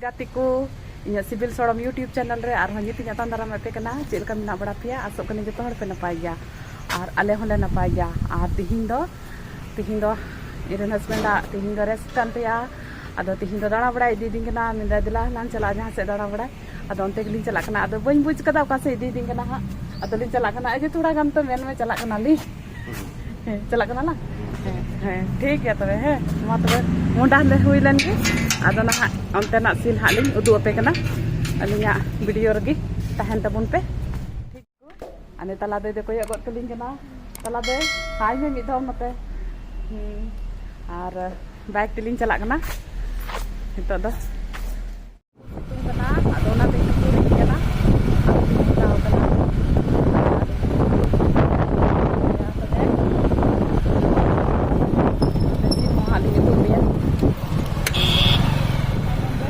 ᱜᱟᱛᱮᱠᱚ ᱤᱧᱟᱹᱜ ᱥᱤᱵᱤᱞ ᱥᱚᱲᱚᱢ ᱤᱭᱩᱴᱤᱭᱩᱵᱽ ᱪᱮᱱᱮᱞ ᱨᱮ ᱟᱨᱦᱚᱸ ᱧᱤᱛ ᱤᱧ ᱟᱛᱟᱝ ᱫᱟᱨᱟᱢ ᱟᱯᱮ ᱠᱟᱱᱟ ᱪᱮᱫ ᱞᱮᱠᱟ ᱢᱮᱱᱟᱜ ᱵᱟᱲᱟ ᱯᱮᱭᱟ ᱟᱥᱚᱜ ᱠᱟᱹᱱᱟᱹᱧ ᱡᱚᱛᱚ ᱦᱚᱲ ᱯᱮ ᱱᱟᱯᱟᱭ ᱜᱮᱭᱟ ᱟᱨ ᱟᱞᱮ ᱦᱚᱸᱞᱮ ᱱᱟᱯᱟᱭ ᱜᱮᱭᱟ ᱟᱨ ᱛᱤᱦᱤᱧ ᱫᱚ ᱛᱤᱦᱤᱧ ᱫᱚ ᱤᱧᱨᱮᱱ ᱦᱟᱥᱵᱮᱱᱰᱟᱜ ᱛᱤᱦᱤᱧ ᱫᱚ ᱨᱮᱥᱴ ᱠᱟᱱ ᱛᱟᱭᱟ ᱟᱫᱚ ᱛᱤᱦᱤᱧ ᱫᱚ ᱫᱟᱬᱟ ᱵᱟᱲᱟᱭ ᱤᱫᱤᱭᱮᱫᱤᱧ ᱠᱟᱱᱟ ᱢᱮᱱᱫᱟᱭ ᱫᱮᱞᱟ ᱞᱟᱝ ᱪᱟᱞᱟᱜᱼᱟ ᱡᱟᱦᱟᱸ ᱥᱮᱫ ᱫᱟᱬᱟ ᱵᱟᱲᱟᱭ ᱟᱫᱚ ᱚᱱᱛᱮ ᱜᱮᱞᱤᱧ ᱪᱟᱞᱟᱜ ᱠᱟᱱᱟ ᱟᱫᱚ ᱵᱟᱹᱧ ᱵᱩᱡᱽ ᱠᱟᱫᱟ ᱚᱠᱟ ᱥᱮᱫ ᱤᱫᱤᱭᱮᱫᱤᱧ ᱠᱟᱱᱟ ᱦᱟᱸᱜ ᱟᱫᱚᱞᱤᱧ ᱪᱟᱞᱟᱜ ᱠᱟᱱᱟ ᱟᱡᱮ ᱛᱷᱚᱲᱟ ᱜᱟᱱ ᱛᱚ ᱢᱮᱱ ᱢᱮ ᱪᱟᱞᱟᱜ ᱠᱟᱱᱟᱞᱤᱧ ᱦᱮᱸ ᱪᱟᱞᱟᱜ ᱠᱟᱱᱟ ᱞᱟᱝ ᱦᱮᱸ ᱦᱮᱸ ᱴᱷᱤᱠ ᱜᱮᱭᱟ ᱛᱚᱵᱮ ᱦᱮᱸ ᱢᱟ ᱛᱚᱵᱮ ᱢᱚᱰᱟ ᱞᱮ ᱦᱩᱭ ᱞᱮᱱ ᱜᱮ ᱟᱫᱚ ᱱᱟᱦᱟᱜ ᱚᱱᱛᱮᱱᱟᱜ ᱥᱤᱱ ᱦᱟᱸᱜ ᱞᱤᱧ ᱩᱫᱩᱜ ᱟᱯᱮ ᱠᱟᱱᱟ ᱟᱹᱞᱤᱧᱟᱜ ᱵᱷᱤᱰᱤᱭᱳ ᱨᱮᱜᱮ ᱛᱟᱦᱮᱱ ᱛᱟᱵᱚᱱ ᱯᱮ ᱟᱱᱮ ᱛᱟᱞᱟ ᱫᱟᱹᱭ ᱫᱚ ᱠᱚᱭᱚᱜ ᱜᱚᱫ ᱠᱟᱹᱞᱤᱧ ᱠᱟᱱᱟ ᱛᱟᱞᱟ ᱫᱟᱹᱭ ᱦᱟᱭ ᱢᱮ ᱢᱤᱫ ᱫᱷᱟᱣ ᱱᱚᱛᱮ ᱟᱨ ᱵᱟᱭᱤᱠ ᱛᱮᱞᱤᱧ ᱪᱟᱞᱟᱜ ᱠᱟᱱᱟ ᱱᱤᱛᱚᱜ ᱫᱚ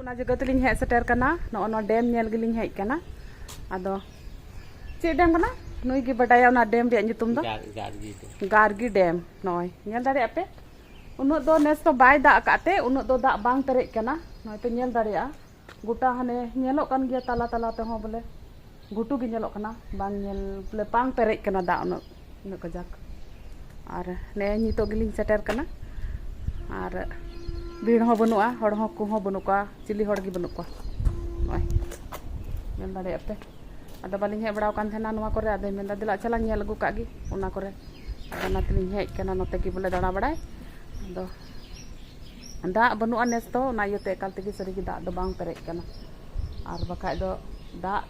ᱚᱱᱟ ᱡᱟᱭᱜᱟ ᱛᱮᱞᱤᱧ ᱦᱮᱡ ᱥᱮᱴᱮᱨ ᱠᱟᱱᱟ ᱱᱚᱜᱼᱚ ᱱᱚᱣᱟ ᱰᱮᱢ ᱧᱮᱞ ᱜᱮᱞᱤᱧ ᱦᱮᱡ ᱠᱟᱱᱟ ᱟᱫᱚ ᱪᱮᱫ ᱰᱮᱢ ᱠᱟᱱᱟ ᱱᱩᱭ ᱜᱮ ᱵᱟᱰᱟᱭᱟ ᱚᱱᱟ ᱰᱮᱢ ᱨᱮᱭᱟᱜ ᱧᱩᱛᱩᱢ ᱫᱚ ᱜᱟᱨᱜᱤ ᱰᱮᱢ ᱱᱚᱜᱼᱚᱭ ᱧᱮᱞ ᱫᱟᱲᱮᱭᱟᱜ ᱯᱮ ᱩᱱᱟᱹᱜ ᱫᱚ ᱱᱮᱥ ᱫᱚ ᱵᱟᱭ ᱫᱟᱜ ᱟᱠᱟᱫ ᱛᱮ ᱩᱱᱟᱹᱜ ᱫᱚ ᱫᱟᱜ ᱵᱟᱝ ᱯᱮᱨᱮᱡ ᱠᱟᱱᱟ ᱱᱚᱜᱼᱚᱭ ᱯᱮ ᱧᱮᱞ ᱫᱟᱲᱮᱭᱟᱜᱼᱟ ᱜᱚᱴᱟ ᱦᱟᱱᱮ ᱧᱮᱞᱚᱜ ᱠᱟᱱ ᱜᱮᱭᱟ ᱛᱟᱞᱟ ᱛᱟᱞᱟ ᱛᱮᱦᱚᱸ ᱵᱚᱞᱮ ᱜᱷᱩᱴᱩ ᱜᱮ ᱧᱮᱞᱚᱜ ᱠᱟᱱᱟ ᱵᱟᱝ ᱧᱮᱞ ᱵᱚᱞᱮ ᱵᱟᱝ ᱯᱮᱨᱮᱡ ᱠᱟᱱᱟ ᱫᱟᱜ ᱩᱱᱟᱹᱜ ᱩᱱᱟᱹᱜ ᱠᱟᱡᱟᱠ ᱟᱨ ᱱᱮᱜᱼᱮ ᱱᱤᱛᱚᱜ ᱜᱮᱞᱤᱧ ᱥᱮᱴᱮᱨ ᱠᱟᱱᱟ ᱟᱨ ᱵᱷᱤᱲ ᱦᱚᱸ ᱵᱟᱹᱱᱩᱜᱼᱟ ᱦᱚᱲ ᱦᱚᱸ ᱠᱚ ᱦᱚᱸ ᱵᱟᱹᱱᱩᱜ ᱠᱚᱣᱟ ᱪᱤᱞᱤ ᱦᱚᱲ ᱜᱮ ᱵᱟᱹᱱᱩᱜ ᱠᱚᱣᱟ ᱱᱚᱜᱼᱚᱭ ᱧᱮᱞ ᱫᱟᱲᱮᱭᱟᱜ ᱯᱮ ᱟᱫᱚ ᱵᱟᱹᱞᱤᱧ ᱦᱮᱡ ᱵᱟᱲᱟᱣ ᱠᱟᱱ ᱛᱟᱦᱮᱱᱟ ᱱᱚᱣᱟ ᱠᱚᱨᱮ ᱟᱫᱚᱭ ᱢᱮᱱᱫᱟ ᱫᱮᱞᱟ ᱪᱟᱞᱟᱜ ᱧᱮᱞ ᱟᱹᱜᱩ ᱠᱟᱜ ᱜᱮ ᱚᱱᱟ ᱠᱚᱨᱮ ᱟᱫᱚ ᱚᱱᱟ ᱛᱮᱞᱤᱧ ᱦᱮᱡ ᱠᱟᱱᱟ ᱱᱚᱛᱮ ᱜᱮ ᱵᱚᱞᱮ ᱫᱟᱬᱟ ᱵᱟᱲᱟᱭ ᱟᱫᱚ ᱫᱟᱜ ᱵᱟᱹᱱᱩᱜᱼᱟ ᱱᱮᱥ ᱫᱚ ᱚᱱᱟ ᱤᱭᱟᱹᱛᱮ ᱮᱠᱟᱞ ᱛᱮᱜᱮ ᱥᱟᱹᱨᱤᱜᱮ ᱫᱟᱜ ᱫᱚ ᱵᱟᱝ ᱯᱮᱨᱮᱡ ᱠᱟᱱᱟ ᱟᱨ ᱵᱟᱠᱷᱟᱡ ᱫᱚ ᱫᱟᱜ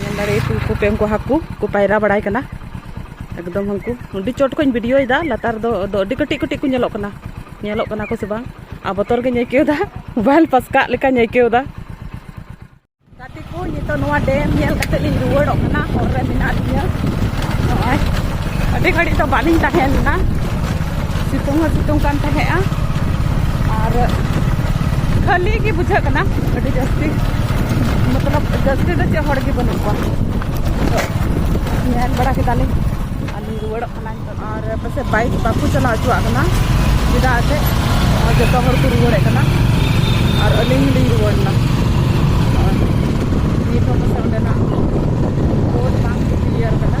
ᱧᱮᱞ ᱫᱟᱲᱮᱭᱟᱜ ᱠᱩ ᱠᱚᱯᱮ ᱩᱱᱠᱩ ᱦᱟᱹᱠᱩ ᱠᱚ ᱯᱟᱭᱨᱟ ᱵᱟᱲᱟᱭ ᱠᱟᱱᱟ ᱮᱠᱫᱚᱢ ᱩᱱᱠᱩ ᱟᱹᱰᱤ ᱪᱚᱴ ᱠᱷᱚᱱ ᱵᱷᱤᱰᱤᱭᱳᱭᱮᱫᱟ ᱞᱟᱛᱟᱨ ᱫᱚ ᱟᱹᱰᱤ ᱠᱟᱹᱴᱤᱡ ᱠᱟᱹᱴᱤᱡ ᱠᱚ ᱧᱮᱞᱚᱜ ᱠᱟᱱᱟ ᱧᱮᱞᱚᱜ ᱠᱟᱱᱟ ᱠᱚ ᱥᱮ ᱵᱟᱝ ᱟᱨ ᱵᱚᱛᱚᱨ ᱜᱮᱧ ᱟᱹᱭᱠᱟᱹᱣᱫᱟ ᱢᱳᱵᱟᱭᱤᱞ ᱯᱟᱥᱠᱟᱜ ᱞᱮᱠᱟᱧ ᱟᱹᱭᱠᱟᱹᱣᱫᱟ ᱜᱟᱛᱮ ᱠᱚ ᱱᱤᱛᱚᱜ ᱱᱚᱣᱟ ᱰᱮᱢ ᱧᱮᱞ ᱠᱟᱛᱮ ᱞᱤᱧ ᱨᱩᱣᱟᱹᱲᱚᱜ ᱠᱟᱱᱟ ᱦᱚᱨ ᱨᱮ ᱢᱮᱱᱟᱜ ᱞᱤᱧᱟ ᱱᱚᱜᱼᱚᱭ ᱟᱹᱰᱤ ᱜᱷᱟᱹᱲᱤᱡ ᱫᱚ ᱵᱟᱹᱞᱤᱧ ᱛᱟᱦᱮᱸ ᱞᱮᱱᱟ ᱥᱤᱛᱩᱝ ᱦᱚᱸ ᱥᱤᱛᱩᱝ ᱠᱟᱱ ᱛᱟᱦᱮᱸᱜᱼᱟ ᱟᱨ ᱠᱷᱟᱹᱞᱤ ᱜᱮ ᱵᱩᱡᱷᱟᱹᱜ ᱠᱟᱱᱟ ᱟᱹᱰᱤ ᱡᱟᱹᱥᱛᱤ ᱢᱚᱛᱞᱚᱵ ᱡᱟᱹᱥᱛᱤ ᱫᱚ ᱪᱮᱫ ᱦᱚᱲ ᱜᱮ ᱵᱟᱹᱱᱩᱜ ᱠᱚᱣᱟ ᱛᱚ ᱧᱮᱞ ᱵᱟᱲᱟ ᱠᱮᱫᱟᱞᱮ ᱟᱨᱞᱤᱧ ᱨᱩᱣᱟᱹᱲᱚᱜ ᱠᱟᱱᱟ ᱱᱤᱛᱚᱜ ᱟᱨ ᱯᱟᱥᱮᱡ ᱵᱟᱭᱤᱠ ᱵᱟᱠᱚ ᱪᱟᱞᱟᱣ ᱦᱚᱪᱚᱣᱟᱜ ᱠᱟᱱᱟ ᱪᱮᱫᱟᱜ ᱮᱱᱛᱮᱫ ᱡᱚᱛᱚ ᱦᱚᱲ ᱠᱚ ᱨᱩᱣᱟᱹᱲᱮᱫ ᱠᱟᱱᱟ ᱟᱨ ᱟᱹᱞᱤᱧ ᱦᱚᱸᱞᱤᱧ ᱨᱩᱣᱟᱹᱲᱮᱱᱟ ᱱᱤᱛ ᱦᱚᱸ ᱯᱟᱥᱮᱡ ᱚᱸᱰᱮᱱᱟᱜ ᱵᱳᱨᱰ ᱵᱟᱝ ᱠᱞᱤᱭᱟᱨ ᱠᱟᱱᱟ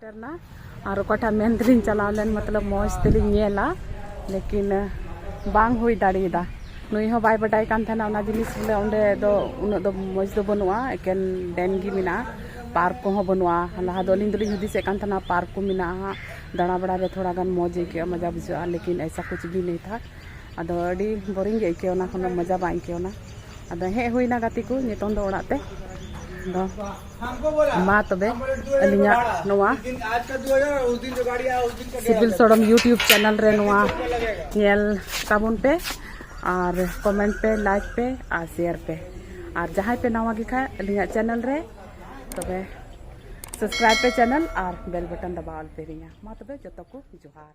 ᱥᱮᱴᱮᱨᱱᱟ ᱟᱨ ᱚᱠᱟᱴᱟᱜ ᱢᱮᱱ ᱛᱮᱞᱤᱧ ᱪᱟᱞᱟᱣ ᱞᱮᱱ ᱢᱚᱛᱞᱚᱵ ᱢᱚᱡᱽ ᱛᱮᱞᱤᱧ ᱧᱮᱞᱟ ᱞᱮᱠᱤᱱ ᱵᱟᱝ ᱦᱩᱭ ᱫᱟᱲᱮᱭᱟᱫᱟ ᱱᱩᱭ ᱦᱚᱸ ᱵᱟᱭ ᱵᱟᱰᱟᱭ ᱠᱟᱱ ᱛᱟᱦᱮᱱᱟ ᱚᱱᱟ ᱡᱤᱱᱤᱥ ᱵᱚᱞᱮ ᱚᱸᱰᱮ ᱫᱚ ᱩᱱᱟᱹᱜ ᱫᱚ ᱢᱚᱡᱽ ᱫᱚ ᱵᱟᱹᱱᱩᱜᱼᱟ ᱮᱠᱮᱱ ᱰᱮᱢ ᱜᱮ ᱢᱮᱱᱟᱜᱼᱟ ᱯᱟᱨᱠ ᱠᱚᱦᱚᱸ ᱵᱟᱹᱱᱩᱜᱼᱟ ᱞᱟᱦᱟ ᱫᱚ ᱟᱹᱞᱤᱧ ᱫᱚᱞᱤᱧ ᱦᱩᱫᱤᱥᱮᱫ ᱠᱟᱱ ᱛᱟᱦᱮᱱᱟ ᱯᱟᱨᱠ ᱠᱚ ᱢᱮᱱᱟᱜᱼᱟ ᱫᱟᱬᱟ ᱵᱟᱲᱟ ᱨᱮ ᱛᱷᱚᱲᱟ ᱜᱟᱱ ᱢᱚᱡᱽ ᱟᱹᱭᱠᱟᱹᱜᱼᱟ ᱢᱚᱡᱟ ᱵᱩᱡᱷᱟᱹᱜᱼᱟ ᱞᱮᱠᱤᱱ ᱮᱭᱥᱟ ᱠᱩᱪ ᱵᱷᱤ ᱱᱮᱦᱤ ᱛᱷᱟ ᱟᱫᱚ ᱟᱹᱰᱤ ᱵᱳᱨᱤᱝ ᱜᱮ ᱟᱹᱭᱠᱟᱹᱣ ᱮᱱᱟ ᱠᱳᱱᱳ ᱢᱚᱡᱟ ᱵᱟᱝ ᱟᱹᱭᱠᱟᱹᱣ ᱮᱱᱟ ᱟᱫᱚ ᱦᱮᱡ ᱦᱩᱭᱱᱟ ᱜᱟᱛᱮ ᱠᱚ ᱱᱤᱛᱚᱝ ᱫᱚ ᱚᱲᱟᱜ ᱛᱮ ᱟᱫᱚ ᱢᱟ ᱛᱚᱵᱮ ᱟᱹᱞᱤᱧᱟᱜ ᱱᱚᱣᱟ ᱥᱤᱵᱤᱞ ᱥᱚᱲᱚᱢ ᱤᱭᱩᱴᱤᱭᱩᱵᱽ ᱪᱮᱱᱮᱞ ᱨᱮ ᱱᱚᱣᱟ ᱧᱮᱞ ᱛᱟᱵᱚᱱ ᱯᱮ ᱟᱨ ᱠᱚᱢᱮᱱᱴ ᱯᱮ ᱞᱟᱭᱤᱠ ᱯᱮ ᱟᱨ ᱥᱮᱭᱟᱨ ᱯᱮ ᱟᱨ ᱡᱟᱦᱟᱸᱭ ᱯᱮ ᱱᱟᱣᱟ ᱜᱮ ᱠᱷᱟᱡ ᱟᱹᱞᱤᱧᱟᱜ ᱪᱮᱱᱮᱞ ᱨᱮ ᱛᱚᱵᱮ ᱥᱟᱵᱥᱠᱨᱟᱭᱤᱵᱽ ᱯᱮ ᱪᱮᱱᱮᱞ ᱟᱨ ᱵᱮᱞ ᱵᱟᱴᱚᱱ ᱫᱟᱵᱟᱣ ᱟᱞᱯᱮ ᱦᱤᱲᱤᱧᱟ ᱢᱟ ᱛᱚᱵᱮ ᱡᱚᱛᱚ ᱠᱚ ᱡᱚᱦᱟᱨ